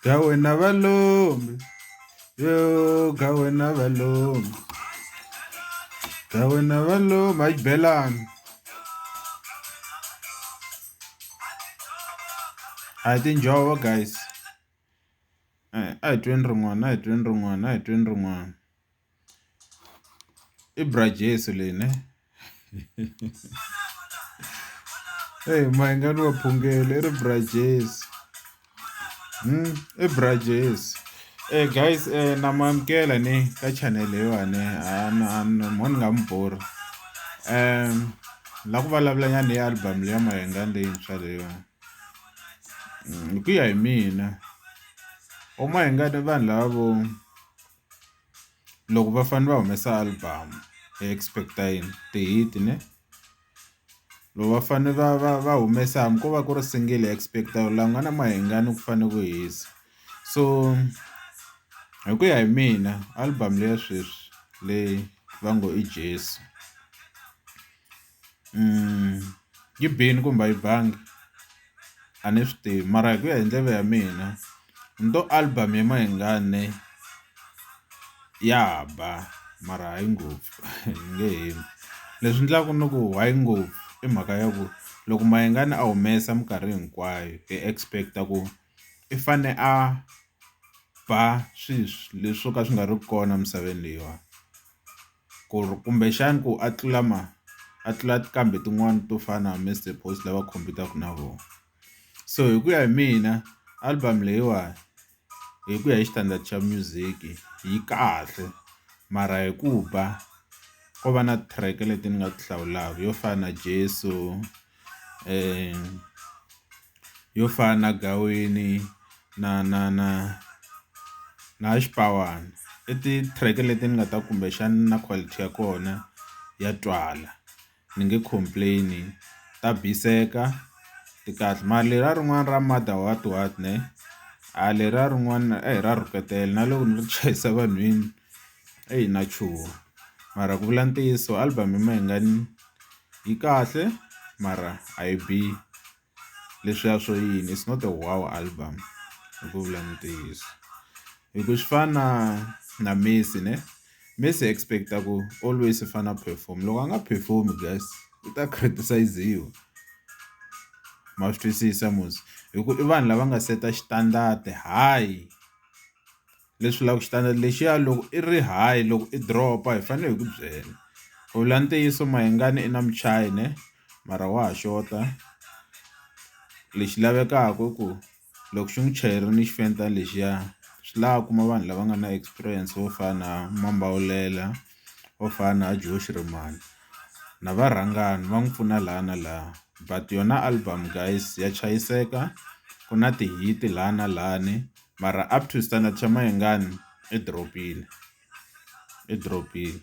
ga wena valomi yo ga wena valomi ga wena valomi hayi belani a hi tinjhovo guys a hi tweni rin'wana a hi tweni rin'wana a hi tweni rin'wana I bra Jesu leyi ne eyi ma yi nga ni wa phungela i ri bra Jesu i bra Jesu guys na mi amukela ne ka channel leyiwani mhani ni nga mi borhi ni la ku vulavula nyana hi album leyi ya Mayengani leyintshwa leyiwani hi ku ya hi mina vo Mayengani i vanhu lava vo. loko va fane va humesa album hi expect-a yini ti-hit ne loko va fane va va va humesa hambi ko va ku ri single hi expect-a la ku nga na mahingani ku fane ku hisa so hi ku ya hi mina album leya sweswi leyi va ngo i Jesu. yi bini kumbe a yi bangi a ni swi tivi mara hi ku ya hi ndlela ya mina ni to album ya Mayengani ya ba mara hayi ngopfu nge hembi, leswi endlaka ni ku hayi ngopfu i mhaka ya ku loko Mayengani a humesa minkarhi hinkwayo hi expect ku i fane a ba swilo leswi swo ka swi nga ri kona emisaveni leyiwani. ku ri kumbexana ku a tlula ma a tlula kambe tin'wani to fana na Mister Post lava khompitaka na vona so hi ku ya hi mina album leyiwani hi ku ya hi xitandati xa music yi kahle mara hi ku ba ko va na track leti ni nga ti hlawulaka yo fana na Jesu. yo fana na gaweni na na na na xipawani i ti-track leti ni nga ta kumbexana na quality ya kona ya twala ni nge complain ta biseka ti kahle mara leriya rin'wana ra mother what what ne a leriya rin'wana ra rhuketela na loko ni ri chayisa vanhwini. Eyi na chuha mara ku vula ntiyiso album ya mehe nga ni yi kahle mara a yi bihi leswiya swo yini is not a wow album hi ku vula ntiyiso hi ku swi fana na na Messi ne Messi hi expect-a ku always i fane a perform loko a nga perform guys u ta criticize-iwa ma swi twisisa mos hi ku i vanhu lava nga seta xitandadi hayi. leswi vulaka xitandi lexiya loko i ri high loko i drop hi fanele hi ku byela ku vula ntiyiso mahingani i na muchayi ne mara wa ha xota lexi lavekaka i ku loko xi n'wi chayerini xifenta lexiya swi lava kuma vanhu lava nga na experience vo fana na mambawulela vo fana na Joe Shirimani na varhangani va n'wi pfuna laha na laha but yona album guys ya chayiseka ku na ti-hit laha na lahani. mara up to standard xa Mayengani i drop-ile i drop-ile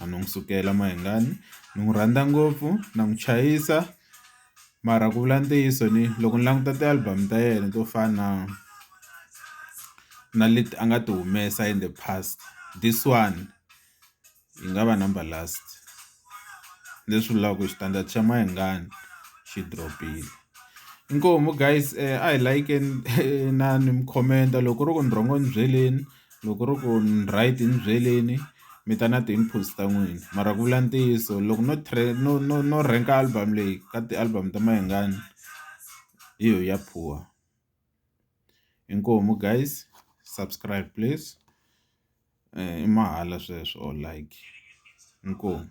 a ni n'wi sukela Mayengani ni n'wi rhandza ngopfu na n'wi chayisa mara ku vula ntiyiso ni loko ni languta ti-album ta yena to fana na na leti a nga ti humesa in the past this one. yi nga va number last leswi vulaka ku xitandzato xa Mayengani xi drop-ile inkomu guys a hi layikeni na ni mi khomenta loko ku ri ku ni wrong ni byeleni loko ku ri ku ni right ni byeleni mi ta na ti-inputs ta n'wina mara ku vula ntiyiso loko no no no no rank album leyi ka ti-album ta Mayengani hi yo ya poor. inkomu guys subscribe please i mahala sweswo or like inkomu.